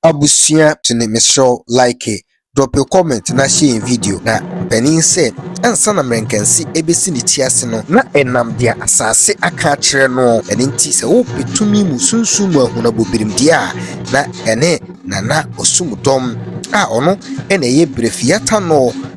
Abusua tuni mesrɛ wo like, drop a comment na hyɛ yɛn video na panin sɛ ansa na mmerɛnkansi ɛbɛsi ne ti ase no na ɛnam deɛ asaase aka akyerɛ noɔ ɛno nti sɛ wo pɛ tumi mu sunsum mu ahunabɔ birimdeɛ a na ɛne Nana Osumdɔm a ɔno na ɛyɛ Brɛfiata noɔ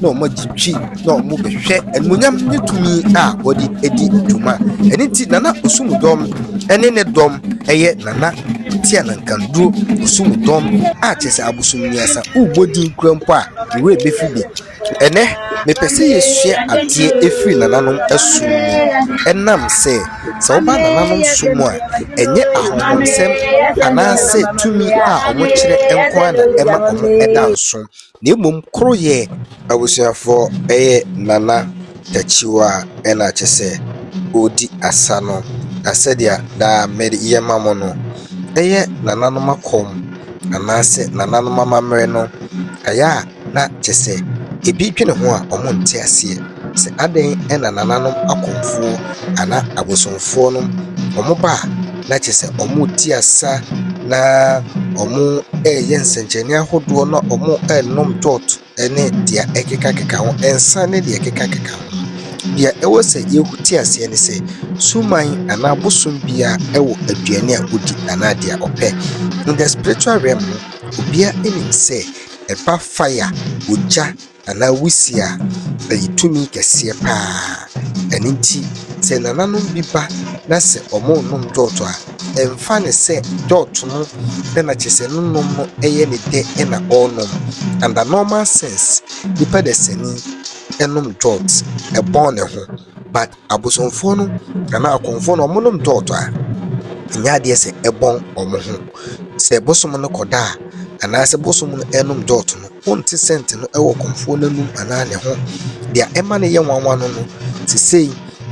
na wɔn agye twi na wɔn bɛhwɛ animonyam ne tumi a wɔde adi dwuma ɛne ti nana osum dɔm ɛne ne dɔm ɛyɛ nana tia na nkanduro osum dɔm a kyɛ sɛ abosom mmiɛnsa wobɔ din kura mpo a ewura ebefi bi ɛnɛ mepɛ sɛ yɛsua adeɛ efiri nananom ɛsom mu ɛnam sɛ sɛ wɔba nananom som a ɛnyɛ ahohomsɛm anaasɛ tumi a wɔkyerɛ nko ara na ɛma wɔn ɛda nso. na mmom koroyɛ. Abusuafoɔ yɛ Nana Takyiwaa na kyɛ sɛ ɔredi asa no, na sɛdeɛ daa meyɛ ma mo no, ɛyɛ Nananom akɔm anaasɛ Nananom amammerɛ no, ɛyɛ a na kyɛ sɛ ɛbi dwene ho a wɔnte aseɛ. Sɛ adɛn na nananom akɔmfoɔ anaa abosomfoɔ no wɔn ba a na kyerɛ sɛ wɔn reti asa na wɔn reyɛ nsɛnkyerɛnne ahodoɔ na wɔn renom dwɔt ɛne deɛ ɛkekakeka ho nsa ne deɛ ɛkekakeka ho. Deɛ ɛwɔ sɛ yɛte aseɛ ne sɛ suman anaa abosom biara ɛwɔ aduane a ɔdi anaa deɛ ɔpɛ. In the spiritual realm no obiara nim sɛ ɛba fire, ogya. Anaa wusi a, ɛyɛ tumi kɛseɛ pa ara. Ɛno nti, sɛ nananom bi ba na sɛ wɔnnom dɔɔto a, ɛmfa no sɛ dɔɔto no dɛ na kyerɛ sɛ ne nom no yɛ ne dɛ na ɔrenom. Under normal sense, nipa dasani nom dɔɔt bɔn ne ho. But abosomfoɔ no anaa akɔmfoɔ no ɔmo nom tɔɔtɔ a ɛnyɛ adeɛ sɛ ɛbɔn ɔmo ho. Sɛ bosom no kɔ da a anaa sɛ bosom no ɛnom tɔɔtɔ no wonte sɛnt no ɛwɔ kɔmfoɔ no anum anaa ne ho. Deɛ ɛma no yɛ nwanwa no no sesei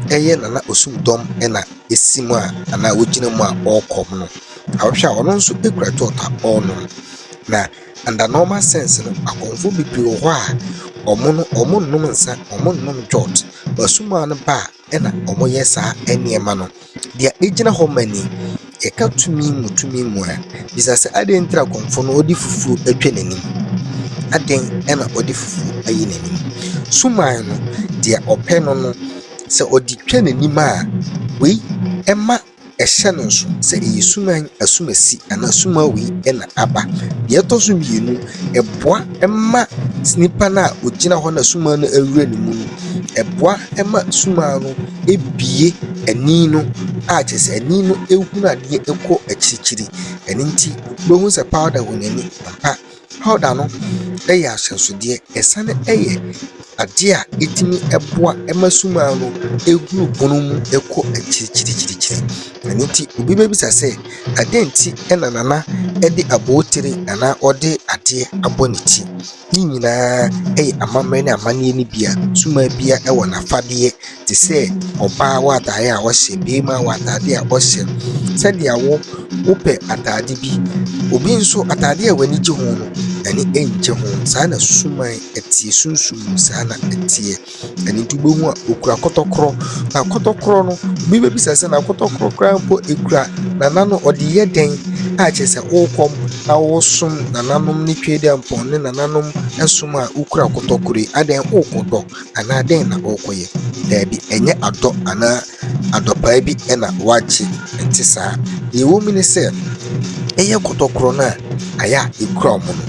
ɛyɛ Nana Osumdɔm ɛna esi mu a anaa ogyina mu a ɔɔkɔm no. Awɔhwɛ a ɔno nso ekura tɔɔtɔ a ɔɔnom na. Under normal sense no, akɔmfoɔ bebree wɔ hɔ a, wɔn no, wɔnnom nsa, wɔnnom jot. Asumaa no ba a, ɛna wɔyɛ saa nneɛma no. Deɛ ɛgyina hɔ ma ni, yɛka tumi mu tumi mu a, bisa sɛ, adɛn nti na akɔmfoɔ no wɔde fufuo atwa n'anim? Adɛn na wɔde fufuo ayi n'anim? Suman no, deɛ ɔpɛ no no, sɛ ɔde twa n'anim a, wei ɛma Hyɛ no nso sɛ ɛyɛ suman, asumasi anaa sumawee na aba. Deɛ ɛtɔ so mmienu, ɛboa ma nipa no a ɔgyina hɔ na suman no awura ne mu no, ɛboa ma suman no bue ani no a kyerɛ sɛ ani no hunu adeɛ kɔ akyirikyiri. Ɛno nti, wobɛhu sɛ powder wɔ n'ani ampa. Powder no yɛ ahyɛnsodeɛ, ɛsane yɛ adeɛ a ɛtumi boa ma sumaa no huru pono mu kɔ akyirikyirikyirikyiri. Ɛno nti obi bɛbisa sɛ, adɛn nti na Nana de abotire anaa ɔde adeɛ abɔ ne ti? Ne nyinaa yɛ amammerɛ ne amanneɛ no bi a sumaa biara wɔ n'afadeɛ. te sɛ ɔbaa w'atadeɛ a ɔhyɛ, barima w'atadeɛ a ɔhyɛ, sɛdeɛ wo wopɛ atadeɛ bi. Obi nso atadeɛ a w'ani gye ho no, n'ani nnye ho. Saa na suman teɛ, sunsum mu saa na ɛteɛ. Ɛno nti wobɛhu a ɔkura kɔtɔkorɔ, na kɔtɔkorɔ no, obi bɛbisa sɛ na kɔtɔkorɔ koraa mpo ɛkura nana no ɔde yɛ dɛn? A kyerɛ sɛ worekɔ na woresom nananom ne Twedeampɔn ne nananom som a wokura kɔtɔkorɔ yi, adɛn worekɔdɔ? Anaa dɛn na ɔrekɔyɛ? Daabi, ɛnyɛ adɔ anaa adɔpaa bi na wagye, ɛnte saa. Nea ɛwɔ mu ne sɛ, ɛyɛ kɔtɔkorɔ no a ayɛ a ekura wɔn no.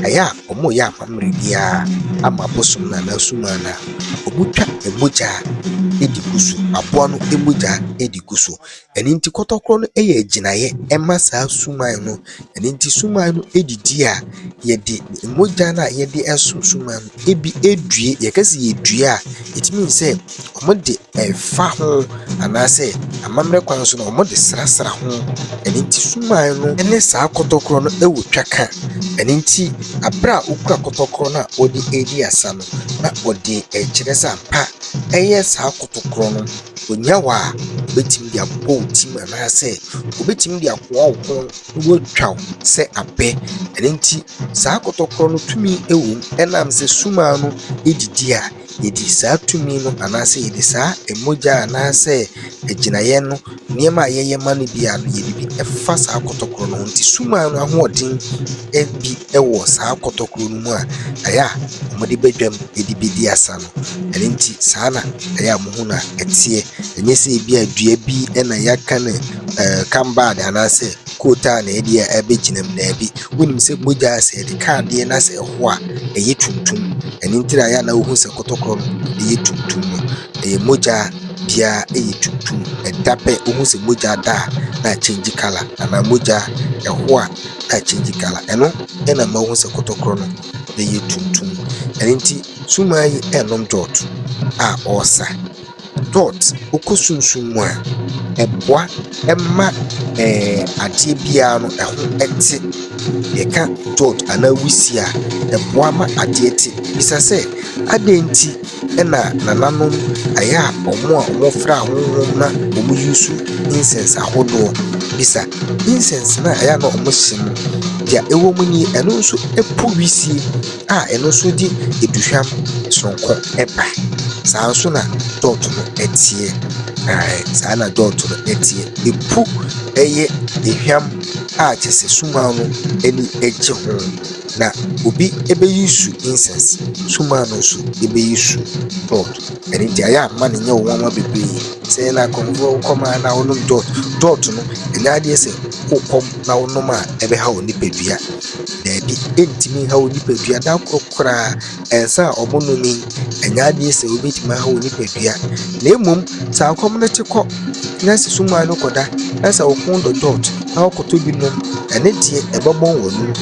Ayɛ a wɔreyɛ amammerɛ biara ama abosom no anaa sumaa no a, wɔtwa mogya di gu so, aboa no mogya di gu so. Ɛno nti kɔtɔkorɔ no yɛ gyinaeɛ ɛma saa suman no. Ɛno nti suman no didi a, yɛde mogya no a yɛde sɔ suman no ebi due. Yɛka sɛ yɛdue a, it means sɛ wɔde fa ho anaa sɛ amammerɛ kwan so no wɔde srasra ho. Ɛno nti suman no ne saa kɔtɔkorɔ no wɔ twaka. Ɛno nti berɛ a wokura kɔtɔkorɔ no a wode redi asa no, na wode kyerɛ sɛ ampa ɛyɛ saa kɔtɔkorɔ no. Onnya wo a, obetumi de abobɔ wo tirim anaasɛ obetumi de akoa wo kɔn na watwa wo sɛ abɛ. Ɛno nti, saa kɔtɔkorɔ no tumi wom ɛnam sɛ sum ara no di di a, yɛdi saa tumi no anaasɛ yɛde saa mogya anaasɛ agyinaeɛ no nneɛma a yɛyɛ ma no biara no, yɛde bi fa saa kɔtɔkorɔ no ho. Nti sum ara no ahoɔden bi wɔ saa kɔtɔkorɔ no mu a, ɛyɛ a wɔde ba dwam de bɛdi asa no. Ɛno nti, saa na ɛyɛ a mohu no a ɛteɛ. Ɛnyɛ sɛ ebi a dua bi na yɛaka no ɛɛ cambard anaasɛ coat a na ɛde abɛgyina mu. Daabi. Wonim sɛ mogya sɛ yɛde ka adeɛ na sɛ ɛho a, ɛyɛ tuntum. Ɛno nti na ɛyɛ a na wohu sɛ kɔtɔkorɔ no yɛ tuntum no. Ɛyɛ mogya biara yɛ tuntum. Ɛda pɛ wohu sɛ mogya da a na akyɛngye colour anaa mogya ɛho a na akyɛngye colour. Ɛno na ɛma wohu sɛ kɔtɔkorɔ no yɛ tuntum. Ɛno nti. Nsumaa yi ɛnom dɔt a ɔɔsa. Dɔt ɔkɔ sunsum mu a ɛboa ɛma ɛɛ adeɛ biaa no ɛho ɛte. Yɛka dɔt anaa wusie a ɛboa ma adeɛ te. Bisa sɛ adɛn nti ɛna nananom ayɛ a ɔmo a ɔmo fra ahonhom na ɔmo yusu insɛns ahodoɔ. Bisa insɛns na ɛyɛ a na ɔmo hye no deɛ ɛwɔ mu nie ɛno nso ɛpo wusie. a ɛno nso de aduhwam soronko ba. Saa ara nso na dɔɔto no teɛ. Ɛɛ saa na dɔɔto no teɛ. Ɛpu ɛyɛ ehwam a kyerɛ sɛ sumaa no ani gye ho. Na obi bɛyi su insɛs, sumaa no nso bɛyi su dɔɔto. Ɛno nti ayɛ a mma no nyɛ wo nwanwa bebree. Sɛ na akɔneaba wokɔnom a na wonom dɔɔto. Dɔɔto no, ɛnyɛ adeɛ sɛ wokɔm na wonom a ɛbɛha wo nipadua. Daabi, ɛntumi nha wo nipadua da koro koraa ɛnsa a wɔnome. Ɛnyɛ adeɛ sɛ wobɛtumi aha wo nipadua, na mmom sɛ akɔm no te kɔ na sɛ suman no kɔda na sɛ wo kɔn dɔ dot na wokɔtɔ bi nom, ɛno deɛ ɛbɛbɔn w'anum.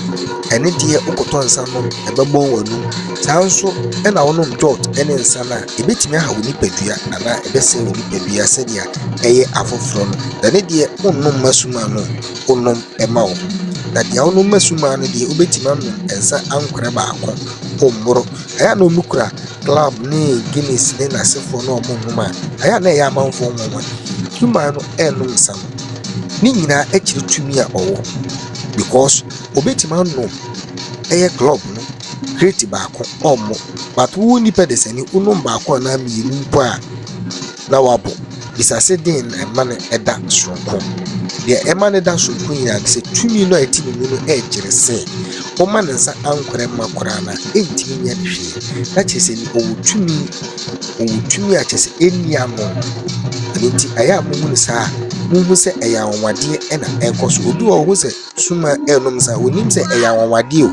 Ɛno deɛ wokɔtɔ nsa nom a, ɛbɛbɔn w'anum. Saa nso na wonom dot ne nsa no a, ɛbɛtumi aha wo nipadua anaa ɛbɛsɛe wo nipadua sɛdeɛ ɛyɛ afoforɔ no. Na ɛno deɛ wonnom mma suman no. wonom ma wo. Na deɛ wonom ma sumaa no deɛ, wobɛtumi anom nsa ankorɛ baako, ɔmmoro. Ɛyɛ a na wɔkura club ne Guinness ne n'asefoɔ na wɔnom a, ɛyɛ a na ɛyɛ amanfoɔ nwanwa. Sumaa no ɛnnom nsa no, ne nyinaa akyiri tumi a ɔwɔ because obɛtumi anom ɛyɛ club no kreti baako ɔmmo. But wo nipa de sani wonom baako anaa mmienu mpo a. na wabɔ. Bisase dɛn na ɛma no da soronko? Nea ɛma no da soronko nyinaa ne sɛ tumi no a ɛte ne mu no kyerɛ sɛ woma ne nsa ankorɛ mma koraa no a, ɛntumi nyɛ no hwee. Na kyerɛ sɛ ni ɔwɔ tumi, ɔwɔ tumi a kyerɛ sɛ ɛnni ano. Ɛno nti, ɛyɛ a mohu no saa a, mohu sɛ ɛyɛ anwanwadeɛ na ɛrekɔ so. Obi wɔ hɔ sɛ suma ɛrenom nsa, ɔnim sɛ ɛyɛ anwanwadeɛ o.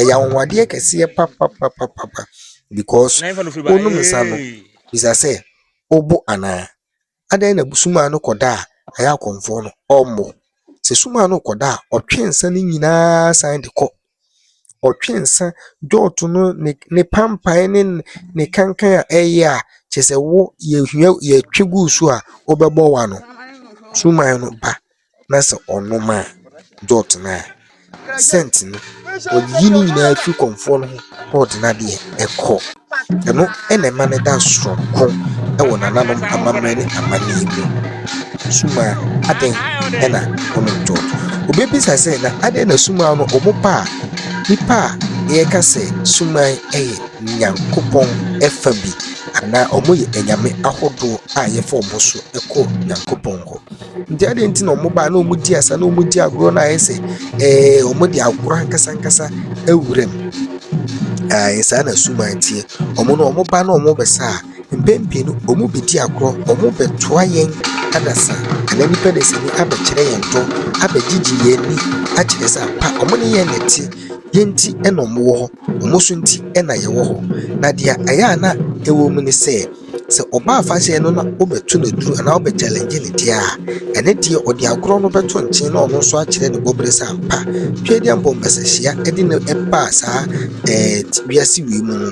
Ɛyɛ anwanwadeɛ kɛseɛ papapapapa because wonom nsa no. bisa sɛ, Wobo anaa? Adɛn na sum a ano kɔ da a ɛyɛ akɔmfoɔ no, ɔmmo? Sɛ sum a ano kɔ da a, ɔtwe nsa no nyinaa san de kɔ. Ɔtwe nsa dwɔɔto no, ne ne pampae ne ne kankan a ɛyɛ a, kyerɛ sɛ wo yɛhia yɛtwe gu so a, wobɛbɔ w'ano. Suman no ba na sɛ ɔnom a, dɔɔt no a, sɛnt no, ɔyiyi ne nyinaa firi kɔmfoɔ no ho na ɔde no adeɛ kɔ. Ɛno na ɛma no da soronko wɔ nananom amammerɛ ne amanneɛ mu. Sumaa, adɛn na wonom dɔɔt? Wobɛbisa sɛ, na adɛn na sumaa no wɔpa a nnipa a yɛka sɛ sumaa yɛ Nyankopɔn fa bi anaa wɔyɛ anyame ahodoɔ a yɛfa wɔn so kɔ Nyankopɔn hɔ? Nti adɛn nti na ɔmo baa na ɔmo di asa na ɔmo di agorɔ na ayɛ sɛ ɛɛ ɔmo de agorɔ ankasa ankasa awura mu ɛɛ saa na suman teɛ ɔmo no ɔmo ba na ɔmo bɛ sa a mpɛn pii no ɔmo bɛ di agorɔ ɔmo bɛ toa yɛn adasa ɛna nipa na sini abɛ kyerɛ yɛn tɔ abɛ gyigye yɛn ni akyerɛ sɛ pa ɔmo ne yɛn na ti yɛn ti ɛna ɔmo wɔ hɔ ɔmo so nti ɛna yɛ wɔ hɔ na deɛ ɛyɛ a na ɛwɔ mu ne sɛ. Sɛ ɔba afahyɛ no na ɔbɛto no duru anaa ɔbɛ challenge ne deɛ a, ɛne deɛ ɔde agorɔ no bɛto nkyen na ɔno nso akyerɛ ne bɔbere sɛ ampa Twedeɛ mbɔ mbasahyia ɛde no ɛbaa saa ɛɛ wiase wei mu no,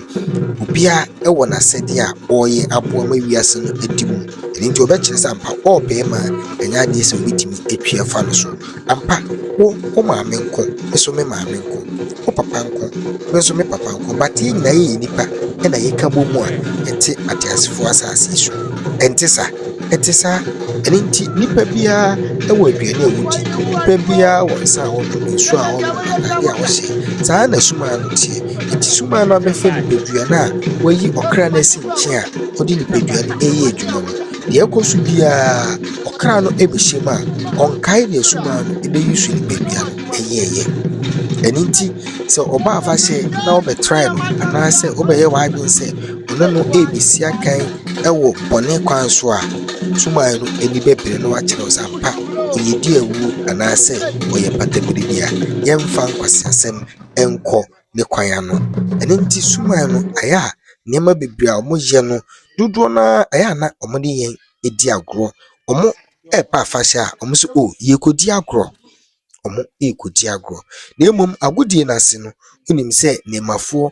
obia ɛwɔ n'asɛdeɛ a ɔyɛ aboa ma wiase no ɛdi mu. Ɛno nti ɔbɛkyerɛ sɛ ampa ɔɔbɛɛma ɛnyɛ adeɛ sɛ ɔbɛtumi atwi afa no so. Ampa, wo, wo maame nko, me so me maame nko, wo papa nko, me nso me papa nko, but yɛn nyinaa yɛyɛ nnipa na yɛka bɔ mu a yɛte ateasefoɔ asase yi so. Ɛnte saa? Ɛte saa. Ɛno nti, nnipa biara wɔ aduane a wɔdi, nnipa biara wɔ nsa a wɔnom, nsuo a wɔnom, atadeɛ a wɔhyɛ. Saa ara na sumaa no teɛ. Nti sumaa no abɛfa nipadua no a wayi ɔkra no asi nkyɛn a ɔde nipadua no reyɛ adwuma no. Deɛ ɛkɔ so biara, ɔkra no bɛhyɛ mu a, ɔnkae deɛ asuman no bɛyi so no baabi a ɛyɛeɛ. Ɛno nti, sɛ ɔba afahyɛ na wobɛtrae no anaasɛ wobɛyɛ w'adwene sɛ wo ne no rebɛsi akan wɔ bɔne kwan so a, asuman no ani bɛbere na wakyerɛ wo sɛ ampa ɔyɛdi awuo anaasɛ ɔyɛ mpataberedi a, yɛmfa nkwaseasɛm nkɔ. ne kwan ano. Ɛno nti suman no ayɛ a nneɛma bebree a wɔyɛ no dodoɔ no ara ɛyɛ a na wɔde yɛn di agorɔ. Wɔreba afahyɛ a wɔbɛka sɛ oh yɛrekɔdi agorɔ. Wɔrekɔdi agorɔ. Na mmom agodie no ase no, wonim sɛ nneɛmafoɔ,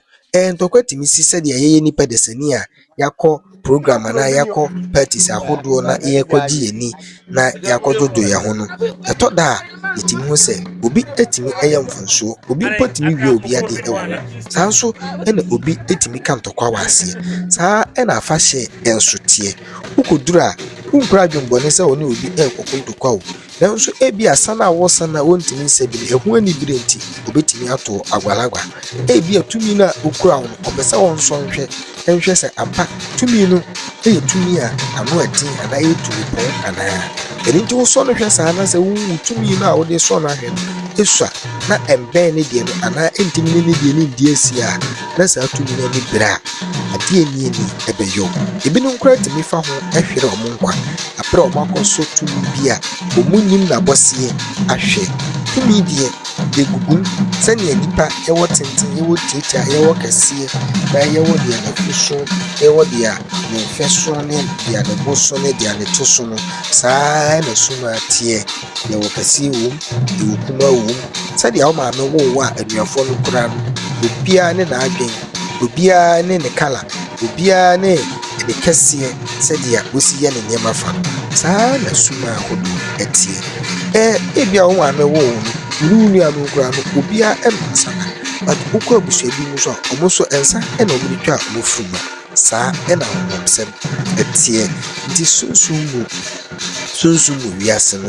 ntɔkwa tumi si sɛdeɛ yɛyɛ nnipa desani a. yɛakɔ program anaa yɛakɔ parties ahodoɔ na yɛrekɔgye yɛn ani na yɛakɔdwodwo yɛn ho no, ɛtɔ da a, yɛtumi hu sɛ obi tumi yɛ mfomsoɔ, obi mpo tumi wie obi adeɛ wɔ hɔ. Saa nso na obi tumi ka ntɔkwa wɔ aseɛ. Saa na afahyɛ nso teɛ. Wokɔduru a, wonkura adwemmɔne sɛ wo ne obi rekɔko ntɔkwa o, Nanso ebia sa no a wɔsa no a wontumi nsa bi no, ɛho anibere nti, obetumi ato wo agualagua. Ebia tumi no a okura wo no, ɔpɛ sɛ ɔnsɔ nhwɛ nhwɛ sɛ ampa tumi no yɛ tumi a ano yɛ den anaa ɛyɛ tumi pɔn anaa. Ɛno nti wosɔ no hwɛ saa na sɛ wohu wo tumi no a wode resɔ no ahwɛ no sua na ɛmbɛn ne deɛ no anaa ɛntumi ne ne deɛ no nndi asi a, na saa tumi no ani bere a, ade a enye nni ɛbɛyɛ wɔn. Ebinom koraa tumi fa ho hwere wɔn nkwa bere a wɔakɔ so tumi bi a wɔnnim n'abɔseɛ ahwɛ. Tumi deɛ, yɛgugu sɛnea nnipa yɛwɔ tenten, yɛwɔ tiatia, yɛwɔ kɛseɛ, na yɛwɔ deɛ ne fo so, yɛwɔ deɛ ne mfɛ so ne deɛ ne bo so ne deɛ ne to so no, saa ara na sum ara teɛ. Yɛwɔ kɛseɛ wɔ mu, yɛwɔ kumaa wɔ mu, sɛdeɛ wo maame woo wo a anuafoɔ no kura no, obiara ne n'adwene, obiara ne ne kala, obiara ne ne kɛseɛ sɛdeɛ wɔsi yɛ ne nneɛma fa no. Saa ara na suman ahodoɔ teɛ. Ɛɛ ebia wo maame woo wo no, wo ne wo nuanom koraa no, obiara nom nsa da. But wokɔ abusua bi mu nso a, wɔn nso nsa na wɔde twa wɔn funuma. Saa na honamsɛm teɛ. Nti sunsum mu, sunsum mu wiase no,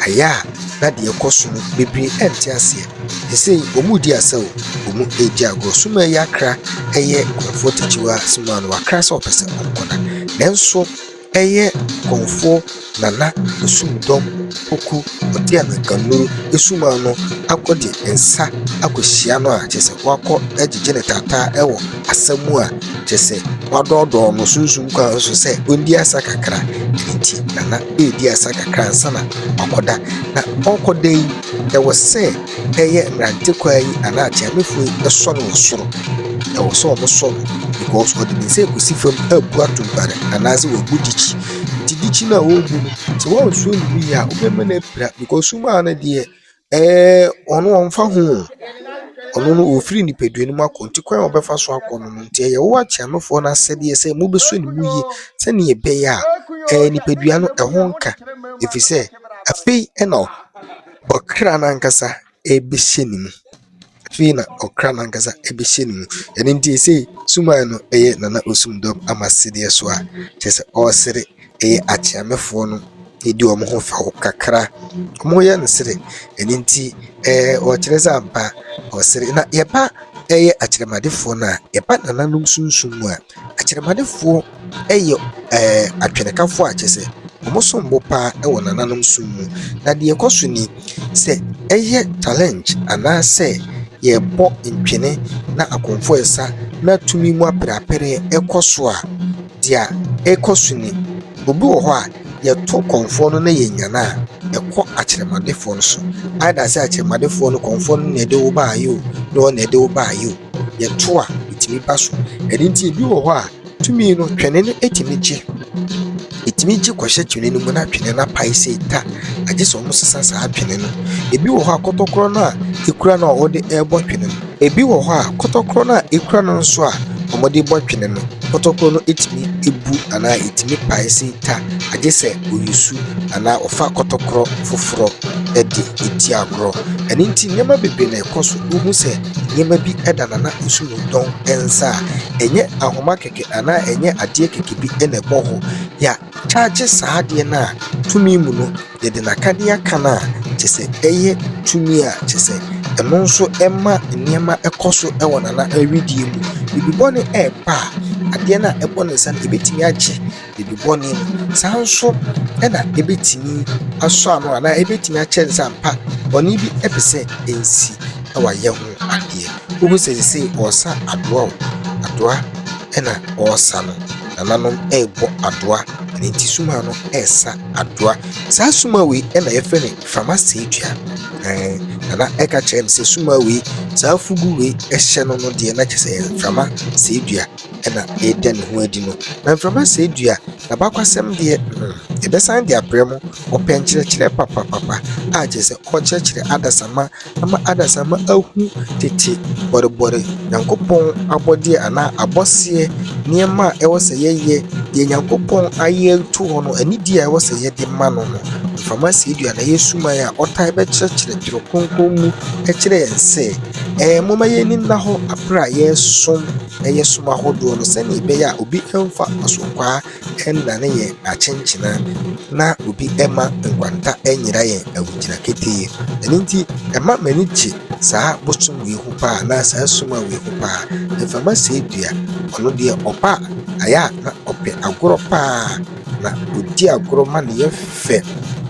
ayɛ a na deɛ ɛkɔ so no bebree ɛnte aseɛ. Sesei wɔredi asa o, wɔredi agorɔ. Sum a ɛyɛ akra ɛyɛ nkurɔfoɔ tikyiwaa sum a na wakra sɛ ɔpɛ sɛ ɔkɔ na. Nanso. Ɛyɛ Kɔmfoɔ Nana Osumdɔm Poku Ɔteamanka Nuru Asuman no akɔ de nsa akɔhyia no a kyerɛ sɛ wakɔ gyegye ne taataa wɔ asa mu a kyerɛ sɛ wadɔɔdɔɔ no sunsum kwan so sɛ ɔndi asa kakra. Ɛno nti Nana redi asa kakra ansa na wakɔda. Na ɔrekɔda yi, ɛwɔ sɛ Ɛyɛ mmerante kwaa yi anaa atiamefoɔ yi sɔre wɔ soro. Ɛwɔ sɛ wɔn sɔre because wɔde wɔn nsa ɛkɔsi fam ɛrebu atumpare anaa sɛ wɔrebu dikyi. Nti dikyi no a wɔrebu no sɛ wɔansuo no wie a wobɛma no apira because sum ara no deɛ ɛɛ wɔn wɔmfa ho oo. Ɔno no ɔrefiri nipadua no mu akɔ nti kwan a wɔbɛfa so akɔ no no nti ɛyɛ wo atiamefoɔ no asɛdeɛ sɛ mobɛsɔ no mu yie sɛdeɛ ɛbɛyɛ a ɛɛ nipadua no ɛho renka ɛfiri sɛ afei na. ɔkra no ankasa bɛhyɛ ne mu. Afei na ɔkra no ankasa bɛhyɛ ne mu. Ɛno nti sei suman no yɛ Nana Osumdɔm ama sedeɛ so a, kyerɛ sɛ ɔresere ɛyɛ Akyeamefoɔ no ɛdi wɔn ho fɛw kakra. Wɔyɛ no sere. Ɛno nti ɛɛ ɔkyerɛ sɛ ampa ɔsere. Na yɛba ɛyɛ Akyerɛmadefoɔ no a, yɛba nananom sunsum mu a, Akyerɛmadefoɔ yɛ atwenekafo a kyerɛ sɛ wɔn som bo paa wɔ nananom som mu. Na deɛ ɛkɔ so ni, sɛ ɛyɛ challenge anaasɛ yɛrebɔ ntwene na akomfoɔ resa na tumi mu apereapereɛ rekɔ so a, deɛ ɛkɔ so ni, obi wɔ hɔ a, yɛto kɔmfoɔ no na yɛnya no a, ɛkɔ akyerɛmadefoɔ no so. Either sɛ akyerɛmadefoɔ no, kɔmfoɔ no na ɛde wo baeɛ o, ne wɔn na ɛde wo baeɛ o, yɛto a, ɛtumi ba so. Ɛno nti ebi wɔ hɔ a. Tumi no, twene no tumi gye. Ɛtumi gye kɔhyɛ twene no mu na twene no apae sei ta. Agye sɛ wɔsesa saa twene no. Ebi wɔ hɔ a, kɔtɔkorɔ no a ɛkura no a wɔde rebɔ twene no. Ebi wɔ hɔ a, kɔtɔkorɔ no a ɛkura no nso a wɔde rebɔ twene no, kɔtɔkorɔ no tumi bu anaa ɛtumi pae sei ta. Agye sɛ wɔyi su anaa wɔfa kɔtɔkorɔ foforɔ de ti agorɔ. Ɛno nti, nneɛma bebree na ɛkɔ so. Wohu sɛ nneɛma bi da Nana Osumintɔn nsa a, ɛnyɛ ahoma kɛkɛ anaa ɛnyɛ adeɛ kɛkɛ bi na ɛbɔ hɔ. Yɛakyaagye saa adeɛ no a tumi mu no, yɛde no aka de aka no a, kyerɛ sɛ ɛyɛ tumi a kyerɛ sɛ ɛno nso ɛma nneɛma kɔ so wɔ Nana wedeɛ mu. Biribi bɔne reba a, adeɛ no a ɛbɔ ne nsa no, ɛbɛtumi agye Biribi bɔne mu. Saa nso na ebetumi asɔ ano anaa ebetumi akyerɛ no sɛ ampa bɔne bi pɛ sɛ ensi na wayɛ ho adeɛ. Wohu sɛ seesei ɔresa adoa o, adoa na ɔresa no. Nananom rebɔ adoa, ɛno nti sumaa no resa adoa. Saa sumaa wei na yɛfrɛ no mframa seedua. Ɛɛ, nana ɛka kyerɛ me sɛ sumaa wei, saa fugu wei hyɛ no no deɛ na kyerɛ sɛ ɛyɛ mframa seedua. na ɛreda ne ho adi no. Na mframa sɛe dua, n'abakɔsɛm deɛ, hmm, ɛbɛsan de abrɛ mo. Ɔpɛ nkyerɛkyerɛ papapapa, a kyerɛ sɛ ɔkyerɛkyerɛ adasamma ama adasamma ahu tete bɔrebɔre Nyankopɔn abɔdeɛ anaa abɔseɛ nneɛma a ɛwɔ sɛ yɛyɛ, deɛ Nyankopɔn ayɛ to hɔ no, anidie a ɛwɔ sɛ yɛde ma no no. Mframa sɛe dua na ɛyɛ suman a ɔtae bɛkyerɛkyerɛ twerɛ kronkron mu kyerɛ yɛn sɛ, ɛɛ momma yɛn ani nna hɔ aberɛ a yɛresom ɛyɛ som ahodoɔ no sɛdeɛ ɛbɛyɛ a obi mfa asokwaa nnane yɛn akyenkyena na obi mma nkwanta nyera yɛn awogyina ketee. Ɛno nti ɛma m'ani gye saa bosom wei ho paa anaa saa som a wei ho paa. Mframa se dua, ɔno deɛ ɔba a ayɛ a na ɔpɛ agorɔ paa. na ɔdi agorɔ ma ne yam fɛ.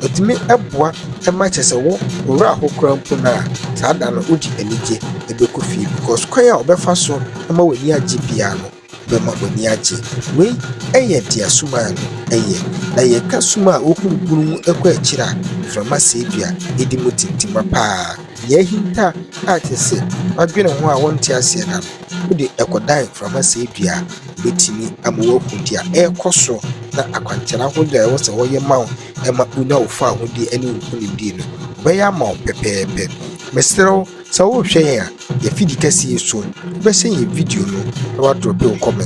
Ɛtumi boa ma kyerɛ sɛ wo ɔwura hɔ koraa mpo no a, saa da no wode anigye bɛkɔ fie because kwan a ɔbɛfa so ama w'ani agye biara no, wobɛma w'ani agye. Wei yɛ deɛ sumaa no yɛ. Na yɛka suma a ɔhuru bunu mu kɔ akyire a, mframa sedua di mu tintima pa ara. Deɛ ahinta a te sɛ wadwene ho a wonte aseɛ da no. Wode ɛkɔdan mframa sɛe dua a, ɛbɛtumi ama woahu deɛ ɛrekɔ so na akwankyerɛ ahodoɔ a ɛwɔ sɛ wɔyɛ ma wo ma wonya wo fawohodie ne wo nkonimdie no, wɔbɛyɛ ama wo pɛpɛɛpɛ. Mesrɛ wo, sɛ worehwɛ yɛn a, yɛn afidikɛseɛ yi so, wobɛhyɛ yɛn video no na woadrɔpe wo comment.